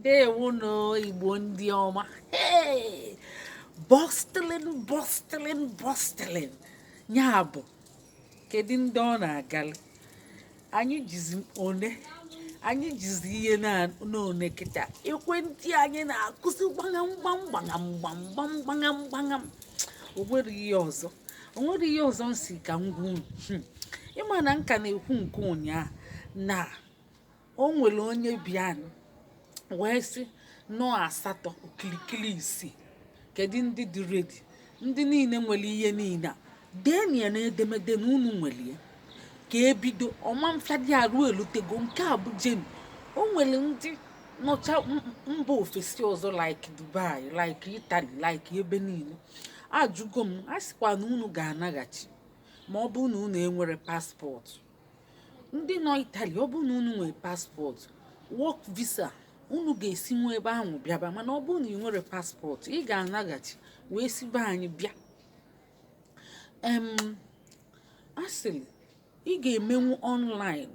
ndeewonụ igbo ndị ọma bọstilin bọstilin bọstilin ya bụ kedu ndị ọ na-agali anyị jizi one anyị jizi ihe n'one kịta ekwentị anyị na-akụzi gbagam gbam gbagam gbam gbam gbagam gbagam o nwere ihe ọzọ m si ka m gwa unu hmm. ị ma na nka na-ekwu nke ụnyaahụ na o nwere onye bịanụ wee sị na ọ asatọ okilikili isii kedu ndị dị redi ndị niile nwere ihe niile a deni ya na edemede na unu nwere ya ka e bido ọ ma-afịadị arụ e lutego nke a bụ genuine o nwere ndị nọcha mba ofesi ọzọ like dubai like itali like ebe niile ajụgo m a sịkwa na unu ga-anaghachi ma ọ bụrụ na unu enwere paspọtụ ndị nọ itali ọ bụrụ na unu nwere paspọtụ wọk visa unu ga-esi nwa ebe ahụ bịaba mana ọ bụrụ na ị nwere paspọtụ ị ga-anaghachi wee si be anyị bịa a sịrị ị ga-emenwu ọnlaịn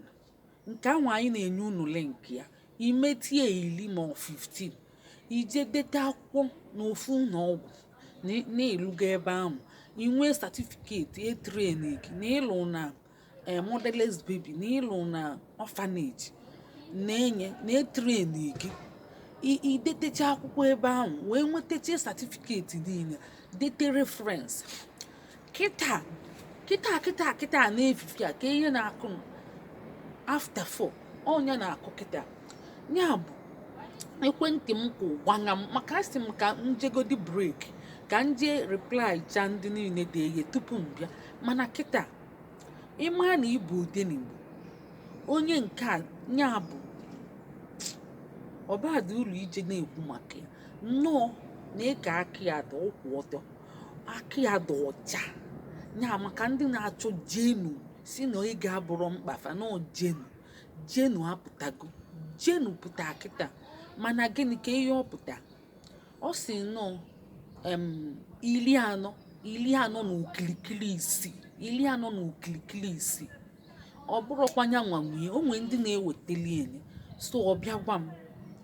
nke ahụ anyị na-enye unu link ya i metie iri ma ọ 15 i je deta akwụkwọ na ofu ụnọ ọgwụ na ị lụga ebe ahụ i nwee satifiketi e treni gị na ị lụ na eh, motherless baby na ị lụ na orphanage na-enye na-etreni gị i detecha akwụkwọ ebe ahụ wee nwetacha satifiketi niile dete reference kịta kịta kịta kịta n'efifie a ka ihe na-akụ after four onye na-akụ kịta ya bụ ekwentị m kwụ gbanya m maka asị m ka m jegodi break ka m je reply cha ndị niile de ihe tupu m bịa mana kịta ị ma na ịbụ odenigbo onye nke a ya bụ ọba dị ụlọ ije na-ekwu maka ya nnọọ na ịka aka ya dị ụkwụ ọtọ aka ya dị ọcha ya maka ndị na-achọ genuine sị na ọ ga-abụrụ mkpa fa na ọ genuine genuine apụtago genuine pụta kịta mana gịnị ka ihe ọ pụta ọ sị na ọ iri anọ iri anọ na okilikili isii iri anọ na okilikili isii ọ bụrụkwa ya nwanwee o nwee ndị na-eweteli enye so ọ bịa gwa m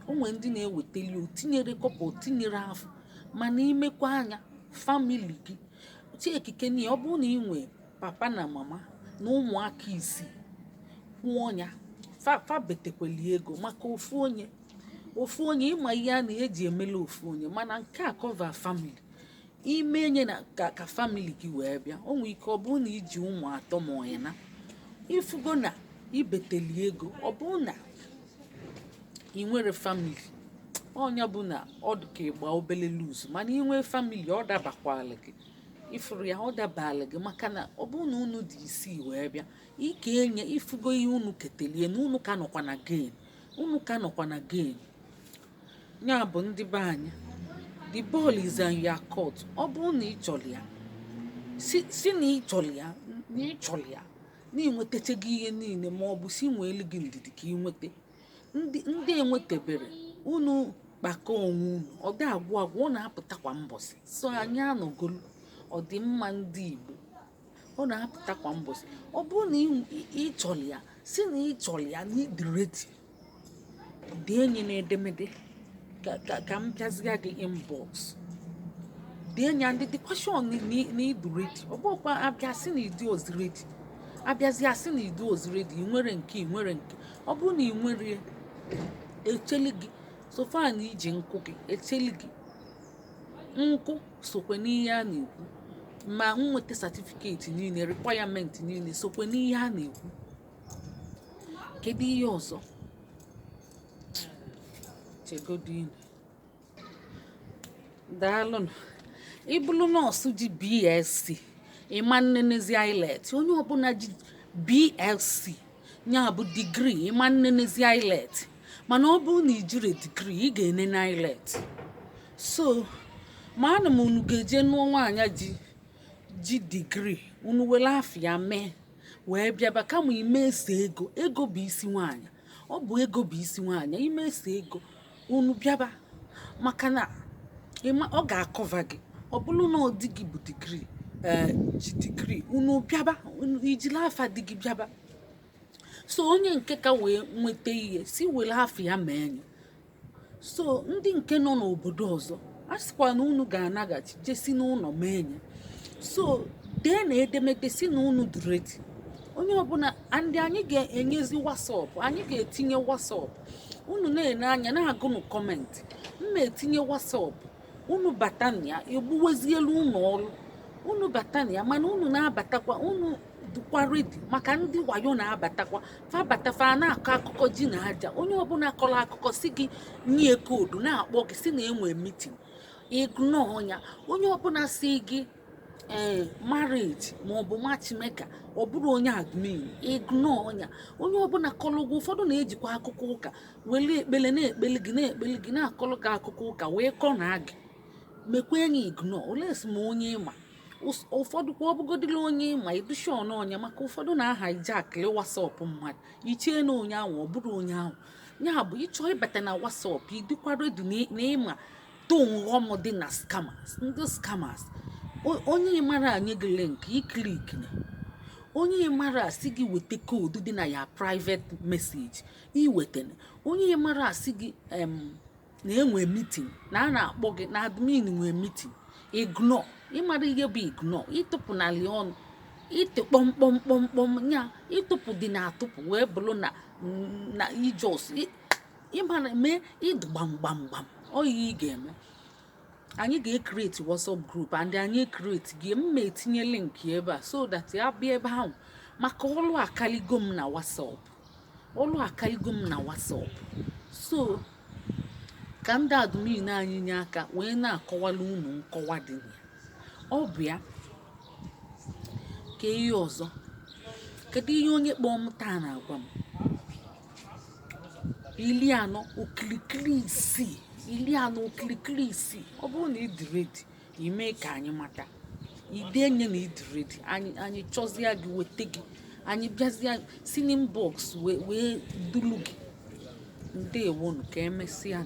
o nwee ndị na-eweteli o tinyere kọpa o tinyere afụ mana imekwa anya famili gị chiekike na ọ bụrụ na ị nwee papa na mama na ụmụaka isii kwụọ ya fa betekweli ego maka ofu onye ofu onye ị ma ihe a na ihe e ji emela ofu onye mana nke a cover family ị mee nya na ka ka family gị wee bịa o nwee ike ọ bụrụ na i ji ụmụ atọ ma ọyị na ị fụgo na i beteli ego ọ bụrụ na ị nwere family ọ nya bụ na ọ dị ka ị gba obele lose mana ị nwee family ọ dabakwala gị ị fụrụ ya ọ dabala gị maka na ọ bụrụ na unu dị isii wee bịa i kee nya ị fụgo ihe unu ketelie na unu ka nọkwa na gain unu ka nọkwa na gain ya bụ ndị be anyị the ball is on your court ọ bụrụ na ị chọrọ ya si na ị chọrọ ya na ị chọrọ ya na ị nwetachago ihe niile ma ọ bụ si nweelu gị ndidi ka ị nweta ndị enwetebere unu kpakọ onwe unu ọ dị agwụ agwụ ọ na-apụta kwa mbọsị so anyị anọgolu ọdịmma ndị Igbo ọ na-apụta kwa mbọsị ọ bụrụ na ị chọrọ ya si na ị chọrọ ya na ị dị ready dee nya na edemede ka m bịazịa gị inbox dee nya and the question na ị dị ready ọ bụkwa a bịa sị na ị dịọzi ready a bịazịa sị na ị dịọzi ready ị nwere nke ị nwere nke ọ bụrụ na ị nwere e cheli gị so far na i ji nkụ gị e cheli gị nkụ sokwe n'ihe a na-ekwu ma nweta certificate niile requirement niile sokwe n'ihe a na-ekwu kedu ihe ọzọ chegodinu daalụnụ ị bụrụ nọọsụ ji BSc ị ma-enenezi IELTS onye ọbụla ji BSc ya bụ degree ị ma-enenezi IELTS mana ọ bụrụ na i jire degree ị ga-enene IELTS so amaana m unu ga-eje nụọ nwaanyị ji ji degree unu were afa ya mee wee bịaba kama i mesie ego ego bụ isi nwaanyị ọ bụ ego bụ isi nwaanyị i mesie ego unu bịaba maka na ọ ga-acover gị ọ bụrụ na ọ di gị bụ degree eh, ji degree unu bịaba i jili afa di gị bịaba so onye nke ka wee nweta ihe si were afa ya mee nya so ndị nke nọ n'obodo ọzọ a sịkwa na unu ga-anaghachi jesi n'ụnọ mee nya so dee na edemede si na unu dị ready onye ọbụla and anyị ga-enyezi WhatsApp anyị ga-etinye WhatsApp unu na-ene anya na-agụnụ comment m ma-etinye WhatsApp unu bata na ya egbuwezielu unu ọrụ unu bata na ya mana unu na-abatakwa unu dịkwa ready maka ndị wayo na-abatakwa fa bata fa na-akọ akụkọ ji na aja onye ọbụla kọrọ akụkọ si gị nye code na-akpọ gị si na enwe meeting ignore nya onye ọbụla si gị ee eh, marriage maọbụ matchmaker ọ bụrọ onye admin ignore nya onye ọbụla kọrọ gị ụfọdụ na-ejikwa akụkọ ụka wele ekpele na-ekpele gị na-ekpele gị na-akọrọ gị akụkọ ụka wee ka ọ na gị mekwa enyi ignore unless ma onye ị ma ụfọdụ kwa ọbụgodịla onye ị ma ị dụ sure na ọ nya maka ụfọdụ na-ahijackịrị WhatsApp mmadụ i chee na onye ahụ ọ bụrọ onye ahụ ya bụ ị chọọ ịbata na WhatsApp ị dịkwa ready na ị ma tọ n'ọghọm dị na scammers ndị scammers onye ị mara nye gị link i clickna onye ị mara sị gị weta code dị na your private message i wetana onye ị mara sị gị na enwe meeting na a na-akpọ gị na admin nwee meeting ignore ị mara ihe bụ ignore ị tụpụnala ọnụ ịtụ kpọmkpọmkpọmkpọm ya ị tụpụdịna atụpụ wee bụrụ na na i just ịmara mee ị dụ gbamgbamgbam ọ ihe ị ga-eme anyị ga-ecreate WhatsApp group and anyị ecreate ya m etinye link ebe a so that ya bịa ebe ahụ maka ọlụ akaligo m na WhatsApp ọlụ akaligo m na WhatsApp so ka ndị admin anyị nye aka wee na-akọwala unu nkọwa dị na ya ọ bụ ya ka ihe ọzọ kedu ihe onye kpọọ m taa na-agwa m iri anọ okirikiri isii iri anọ okirikiri isii ọ bụrụ na ị dị ready i mee ka anyị mata i denye na ị dị ready anyị anyị chọzie gị weta gị anyị bịazie si n'inbox wee wee dulu gị ndewonu ka emesịa